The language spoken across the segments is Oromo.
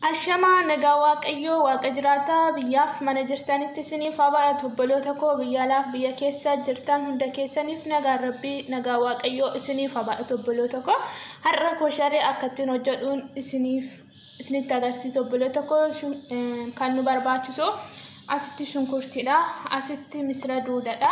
Ashamaa nagaa waaqayyoo waaqa jiraataa biyyaaf mana jirtanitti isiniif haa baay'atu obboloota koo biyya alaaf biyya keessa jirtan hunda keessaniif nagaan rabbii nagaa waaqayyoo isiniif haa baay'atu obboloota koo har'a koo sharee akka ittiin hojjedhuun isiniif isinitti agarsiisa obboloota koo shun- eh, kan nu barbaachisu asitti shunkurtiidha asitti misira duudadha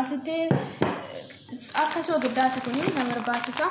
asitti akka soogiddaati kun na barbaachisa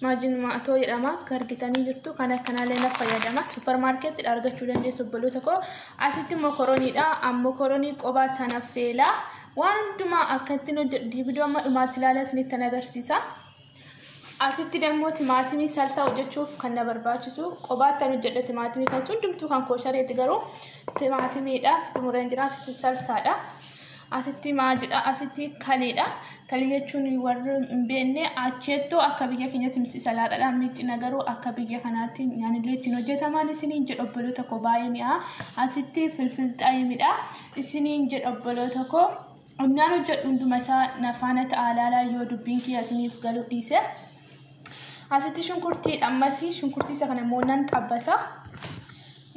maajin maatoo jedhama akka argitanii jirtu kan akkanaallee na fayyadama suuparmaarkeettidha argachuu dandeessu obboloota koo asitti mokorooniidha mokoroonii qobaa sana feelaa waan hundumaa akka ittiin hojjedhu viidiyoo amma dhumaatti ilaalaa isinitti agarsiisa. Asitti dammoo timaatimii salsaa hojjechuuf kan na barbaachisu qobaatti an hojjedha timaatimii kan hundumtuu kan kooshareeti garuu timaatimiidha asitti mureen jira asitti salsaadha asitti maajidha asitti kaliidha kalii jechuun warri hin beekne acheettoo akka biyya keenyatti nuti salaadhaadha miicina garuu akka biyya kanaatti nyaanilee ittiin hojjetaman isiniin jedha obboloota koo baay'ee mi'aa asitti filfilxaayimidha isiniin jedha obboloota koo Onnaan hojjedhu hunduma isaa na faana ta'aa laalaa yoo dubbiin kiyya isiniif galuu dhiise. Asitti shunkurtii dhammasii shunkurtii isa kana immoo nan xabbasaa.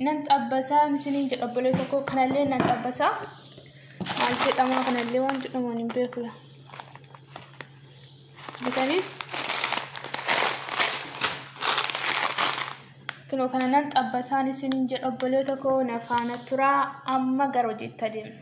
Nan xabbasaa isiniin jedha obbolee tokko kanallee nan xabbasaa. Maal jedhamaa kanallee waan jedhaman hin beeku. Bitanii kunoo kana nan xabbasaan isiniin jedha obbolee tokko na faana turaa amma gara hojiitti adeemna.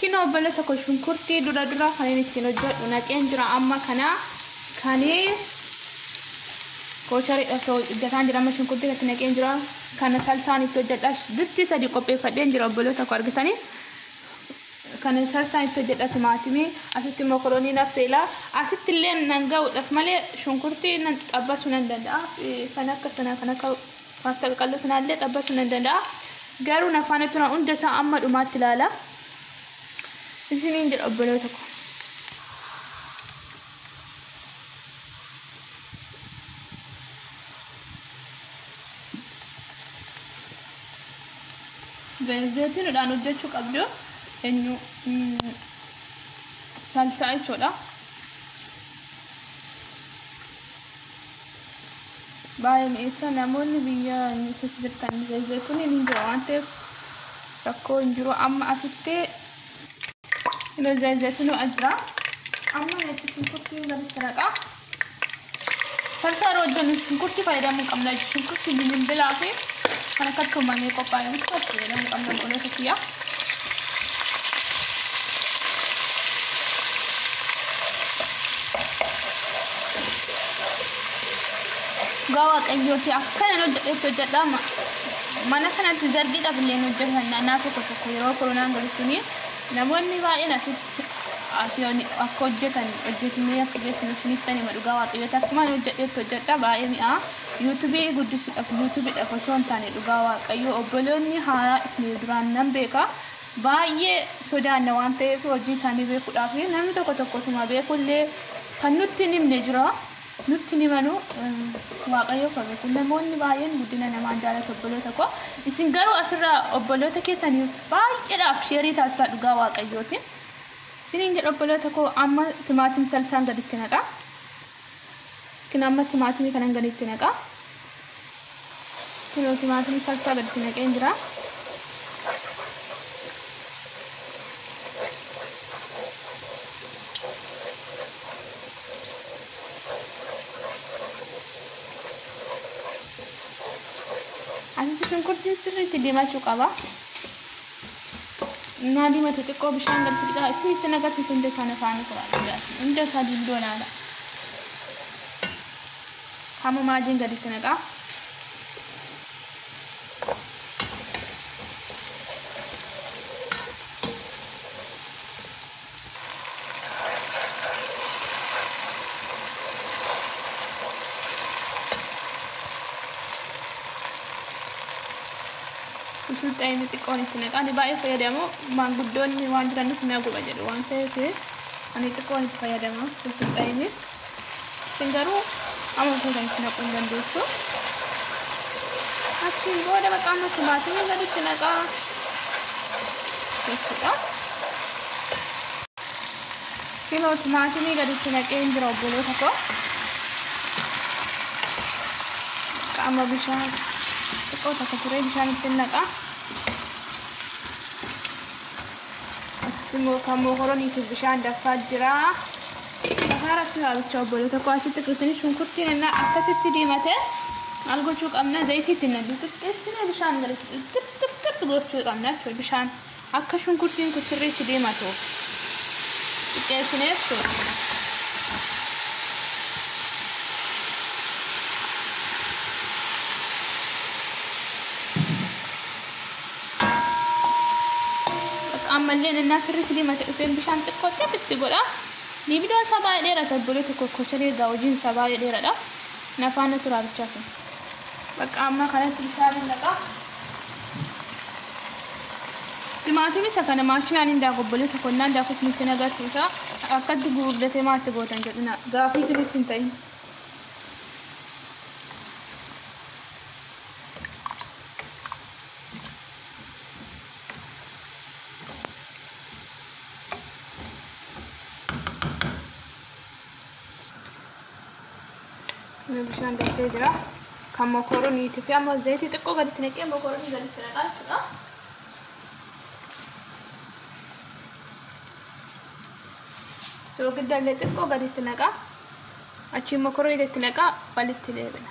Kino obbola tokko shunkurtii dura dura kan inni ittiin hojjedhu naqeen jira amma kana kan koochariidha osoo hojjetaan jira amma shunkurtii irratti naqeen jira kana salsaan itti hojjedha distii sadi qopheeffadheen jira obbola tokko argitanii kana salsaan itti hojjedha timaatimii asitti mokoroonii naffeela asitti illee nan ga'uudhaaf malee shunkurtii nan xabbasuu nan danda'a kan akka sana kan akka Maaf xaqaqalloo sanaallee xabbasuu nan danda'a. Garuu na faana tura hunda isaa amma dhumaatti ilaala. Isiniin jedha obboloota koo. Zayitiinudhaan hojjechuu qabdu eenyu salsaa jechuudha. baay'ee mi'eessa namoonni biyya inni keessa jirtan zayituun hin jira waan ta'eef rakkoo hin jiru amma asitti zayituun ajira amma natti shunkurtii gaditti naqaa sarsaara wajjin shunkurtii fayyadamuu qabna shunkurtii bilbilaa fi kan akka tuumamee qophaa'e bichaatti fayyadamuu qabna qoloota kiyyaa. Dhugaa waaqayyooti akkana hojjedhetti hojjedhaa ma- mana kanatti zargiidhaaf illee hin hojjetan naannaa tokko tokko yeroo koronaan galu suni namoonni baay'een asitti asii oli akka hojjetan hojjetnee akka geessinu isinitti hima dhugaa waaqayyooti akkuma ani hojjedhetti hojjedhaa baay'ee mi'aa. YouTube guddisudhaf YouTube dhaf osoo hin taane dhugaa waaqayyoo obboloonni haaraa dhufne duraan nan beeka baay'ee sodaanna waan ta'eef hojii isaanii beekudhaaf namni tokko tokko utuma beeku illee kan nutti hin himne jira nutti hin himanu waaqayyoo kan beeku namoonni baay'een guddina namaa hin jaalatu obboloota koo isin garuu asirraa obboloota keessaniif baay'eedhaaf sheerii taasisaa dhugaa waaqayyootiin isiniin jedha obboloota koo amma timaatim salsaan gaditti naqaa Kun amma timaatimii kanan gadi itti naqa. Kunoo timaatimii salsaa gadi itti naqeen jira. Asitti shunkurtiin sirriitti diimachuu qaba. Innaa diimate xiqqoo bishaan galti qixaa isinitti nagarsiisu hunda isaa nafaanii turaa dhugaatii hunda isaa dildoo laala. Hamma maajiin gaditti naqaa. Utuu xaa'imni xiqqoon itti naqaa ani baay'ee fayyadamu maanguddoonni waan jiraniif na guba jedhu waan ta'eef ani xiqqoon itti fayyadama utuu xaa'imni. Isin garuu amma feetan itti naquu hin dandeessu. Achiin booda bakka amma timaatimii gaditti naqaa jechuudha. Kunoo timaatimii gaditti naqee hin jira obboloota koo. Qaama bishaan xiqqoo takka turee bishaan ittiin naqa. Asitti immoo kan mokoroniitiif bishaan danfaa jira. Bahaara fi waabicha obboloota koo asitti dhufanii shunkurtiin ennaa akkasitti diimate maal gochuu qabna zayitiitti na xixiqqeessinee bishaan galitti xixiqqixxixxi gochuu qabna jechuudha bishaan akka shunkurtiin kun sirriitti diimatu xiqqeessinee jechuudha. Bakka ammallee ennaa sirriitti diimate dhufeen bishaan xiqqoo xixiqqi godha. Ni videon isaa baay'ee dheerata obboleeto koo kochale egaa hojiin isaa baay'ee dheeradha na faana turaa bichaa kun. Baqqaa ammaa kanatti bishaaniin naqaa. Timaatimii isa kana maashinaan hin daaku obboleeto koo naan daaku isinitti hin agarsiisa akkatti guurdatee maatti gootan jedhina gaafii isinitti hin ta'in. bishaan darbee jira kan mokoroniitii fi amma zayitii xiqqoo gaditti naqee mokoronii gaditti naqaa jechuudha. Soogidda illee xiqqoo gaditti naqaa achiin mokoronii gaditti naqaa walitti deebina.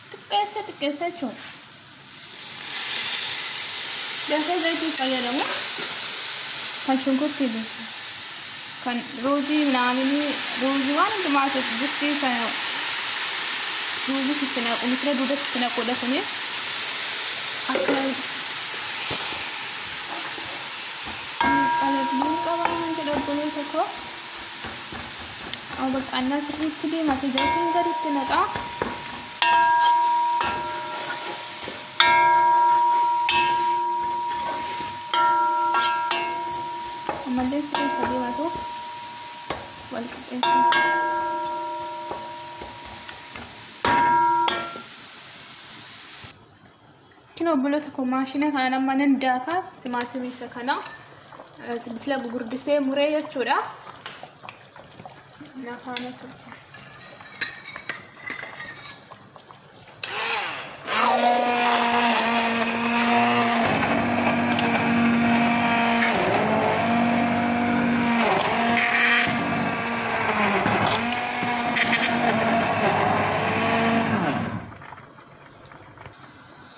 xiqqeessa xiqqeessa jechuudha. Daakuu zayitii fayyadamu kan shunkurtii beeku kan ruuzii minaaminii ruuzii waan hundumaa keessa distii sana ruuzii sitti naqu misira duuda sitti naquudha kuni akka qalabnuu qabaa kan jedhu obboloota koo baqqaannaa sirriitti diimate zaytiin gaditti naqaa. ammallee sirrii akka diimatu wal qixxeessuun Kino obboloota koo maashina kanaan amma nan daaka timaatimii isa kana sila gugurdisee muree jechuudha. Na faana turte.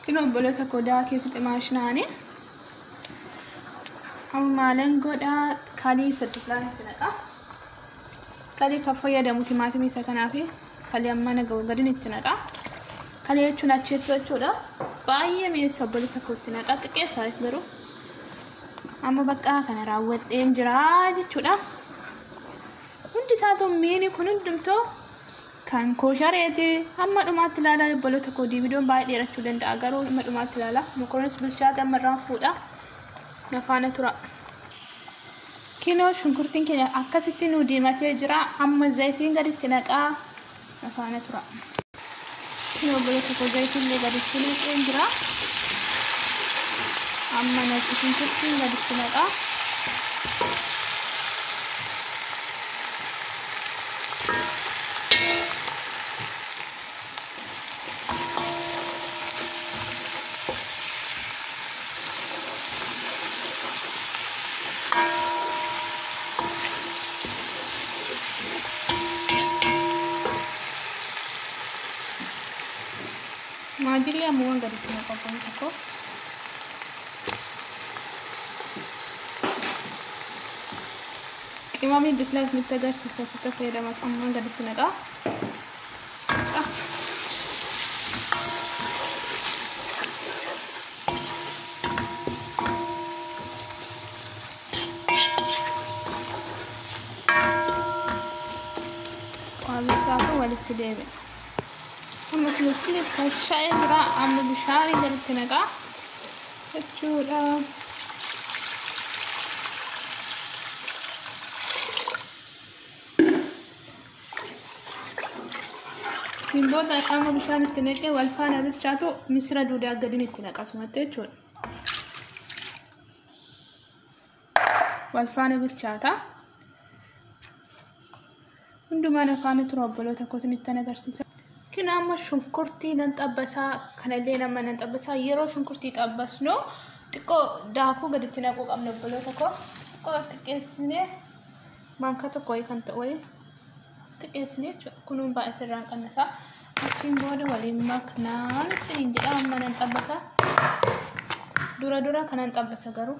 Kun obboloota koo daakee fixe maashinaani. Amma maalan godha kalii saddeet laan itti naqa. Kalii kan fayyadamu timaatimii isa kanaa fi kalii amma na gahu gadin itti naqa. Kalii jechuun acheettuu jechuudha. Baay'ee mi'eessa obboloota koo itti naqa xiqqeessaa garuu. Amma bakka kana raawwadheen jira jechuudha. Hundi isaatu miini kun hundumtuu Kan koo shareeti hamma dhumaatti ilaalaa obboloota koo diividoon baay'ee dheerachuu danda'a garuu hamma dhumaatti ilaalaa mokoronis bilchaate amma irraan fuudha na faana tura. Kinoo shunkurtiin keenya akkasitti nu diimatee jira amma zayitiin gaditti naqaa na faana tura. Kinoo obboloota koo zayitiin illee gaditti naqeen jira amma na shunkurtiin gaditti naqaa. Maajillee ammumaan gaditti naqaa kun tokko. Qimamii dislike nutti agarsiisa sitta fayyadamatu ammaan gaditti naqaa. Waamichaatu walitti deebi'a. Amma kun itti tashaa'ee jira amma bishaanii gaditti naqaa. jechuudha. Ittiin booda amma bishaan itti naqee wal faana bilchaatu misira duudaa gadiin itti naqasumatti jechuudha. wal faana bilchaata. Hundumaan afaanii tura obboloota koo isinittan agarsiisa. Kin amma shunkurtii nan xabbasaa kanallee nama nan xabbasaa yeroo shunkurtii xabbasnu xiqqoo daakuu gaditti naquu qabna obboloota koo xiqqoo xiqqeessinee maankaa tokko wayii kan ta'u wayii xiqqeessinee jechuudha kunuun baay'ee irraan qannasaa achiin booda waliin maknaan isiniin jedha amma nan xabbasaa dura dura kanan xabbasa garuu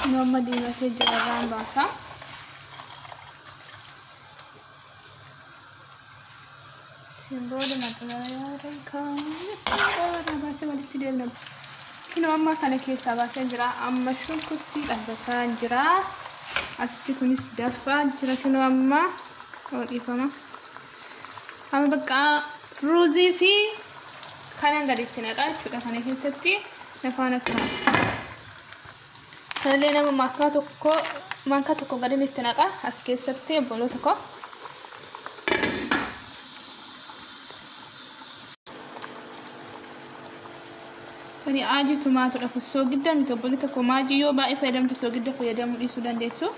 Kun amma diimatee jira irraan baasa. Isin booda maxxanaa irraa baasee walitti deemna. Kun amma kana keessaa baasee jira. Amma shunkurtii dhabbasaa jira. Asitti kunis dafaa jira. Kun amma yoo dhiifama. Amma bakka ruuzii fi kanan gaditti naqaa jechuudha kana keessatti. Afaan akkaan. Kanallee nama maakkaa tokko maankaa tokko gadin itti naqa as keessatti obboloota koo. Kani aajii tumaatudha kun soogidda miti obboloota koo maajii yoo baay'ee fayyadamtu soogidda fayyadamuu dhiisuu dandeessu.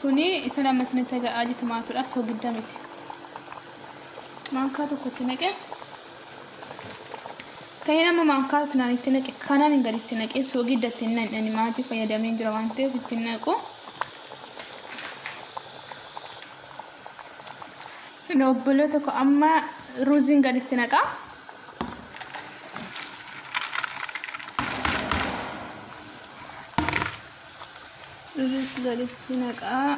Kuni isa lammata natti agaa aajii tumaatudha soogidda miti. Maankaa tokko itti naqe. Ta'in amma maankaa kanaan itti naqe kanaan hin gadi itti naqee soogidda itti hin naqne ani maatii fayyadamee jira waan ta'eef itti hin naqu. Hin obbolee tokko amma ruuziin gadi itti naqaa. Ruuziin gadi itti naqaa.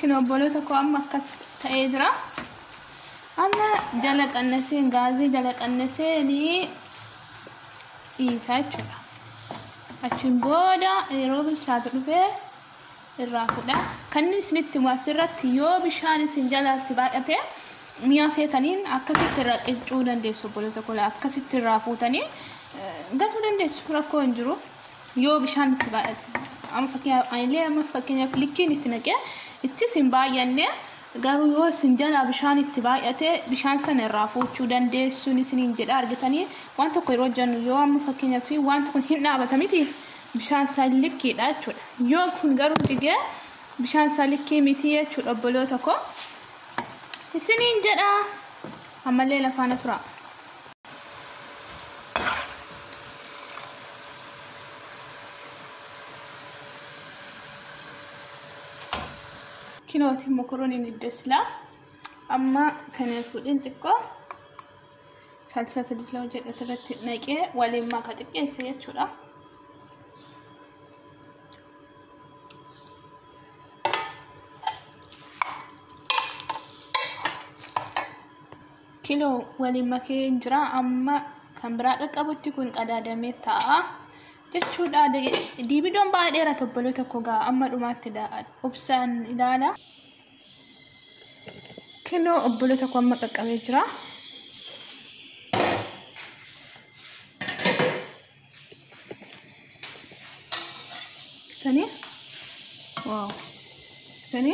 Kun obboloota koo amma akkas ta'ee jira. Amma jala qannasee gaazii jala qannasee ni dhiisaa jechuudha. Achiin booda yeroo bilchaatu dhufee irraa fudha. Kannin isinitti himu as irratti yoo bishaan isin jalaatti baay'ate mi'a feetaniin akkasitti irraa qiccuu dandeessu obboloota koo akkasitti irraa fuutanii gatuu dandeessu rakkoo hin jiru yoo bishaan itti baay'ate amma fakkeenyaaf anilee amma fakkeenyaaf likkiin itti naqee ittis hin baay'anne garuu yoo isin jalaa bishaan itti baay'ate bishaan sana irraa fuuchuu dandeessuun isiniin jedha argitanii waan tokko yeroo jennu yoo amma fakkeenyaaf wanti kun hin dhaabata miti bishaan isaa likkiidha jechuudha. Yoo kun garuu jigee bishaan isaa likkii miti jechuudha obboloota koo. Isiniin jedha ammallee lafaana tura. Kinooti mokoroniin iddoo silaa amma kana fuudhin xiqqoo. salsaa sadii lama jedhe asirratti naqee waliin maka xiqqeessa jechuudha. Kiloo waliin makee hin jira amma kan biraa qaqqabutti kun qadaadamee ta'a jechuudha. Diibidoon baay'ee dheera tobbaloo tokko ga'a amma dhumaatti obsaan ilaala. Kinoo obbolee tokko amma qaqqabee jira. Tani waaw tani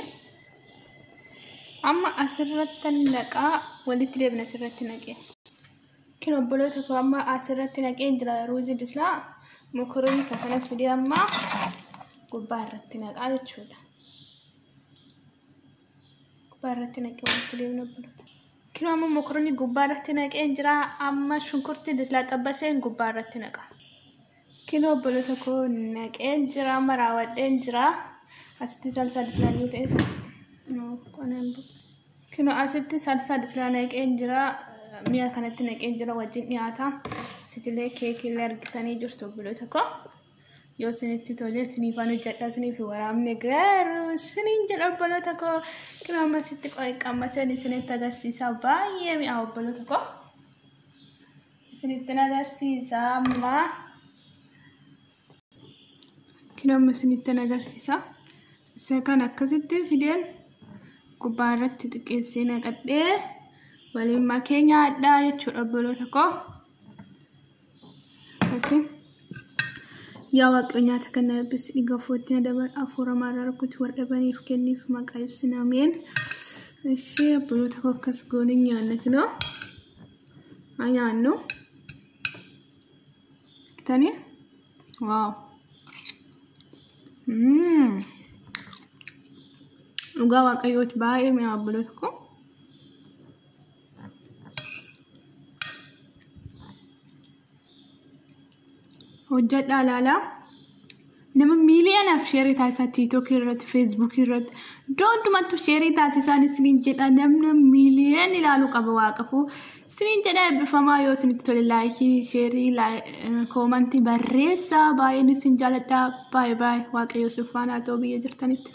amma asirratti naqaa walitti deebina asirratti naqee. Kin obbolee tokko amma asirratti naqee jira ruuzii dislaa mokoroonii isa kana fidee amma gubbaa irratti naqaa jechuudha. gubbaa irratti naqee walitti deemna bulu. Kinoo amma mokoronni gubbaa irratti naqeen jira. Amma shunkurtii dislaa xabbaseen gubbaa irratti naqa. Kinoo bulu tokko naqeen jira. Amma raawwadheen jira. Asitti salsaa dislaa yoo ta'es qonaan bulu. Kinoo asitti salsaa dislaa naqeen jira. Mi'a kanatti naqeen jira wajjin dhiyaata. Asitillee keekiillee argitanii jirtu bulu tokko. yoo isinitti tolee isiniifaan hojjedha isiniif waraabne garuu isiniin jedha obboloota koo kun amma sitti qammaseen isinitti agarsiisa baay'ee mi'aa obboloota koo isinittin agarsiisa amma kun amma isinittin agarsiisa isa kan akkasitti fideen gubbaa irratti xiqqeessee naqadhee waliin makee nyaadhaa jechuudha obboloota koo. Kasi. Yaa Waaqayyo nyaata kana eebbisi dhiiga afuuratti na dabar afuura maarraa rukuti warra dhabaniif kenniif maqaa ibsin ameen. Ishee abbootii tokko akkas goonee nyaanna kinoo. Haa nyaannu. Kitanii. Waaw. Mm. Dhugaa Waaqayyooti baay'ee mi'aa abbootii tokko. hojjadhaa laalaa nama miiliyonaaf sheerii taasisaa tiiktookii irratti feesbuukii irratti iddoo hundumattuu sheerii taasisaan isiniin jedha namni miiliyoon ilaaluu qaba waaqafuu isiniin jedha eebbifamaa yoo isinitti tole laayikii sheerii koomantii barreessaa baay'een isin jaaladha baay'ee baay'ee waaqayyoo sifaanaa ta'uu biyya jirtanitti.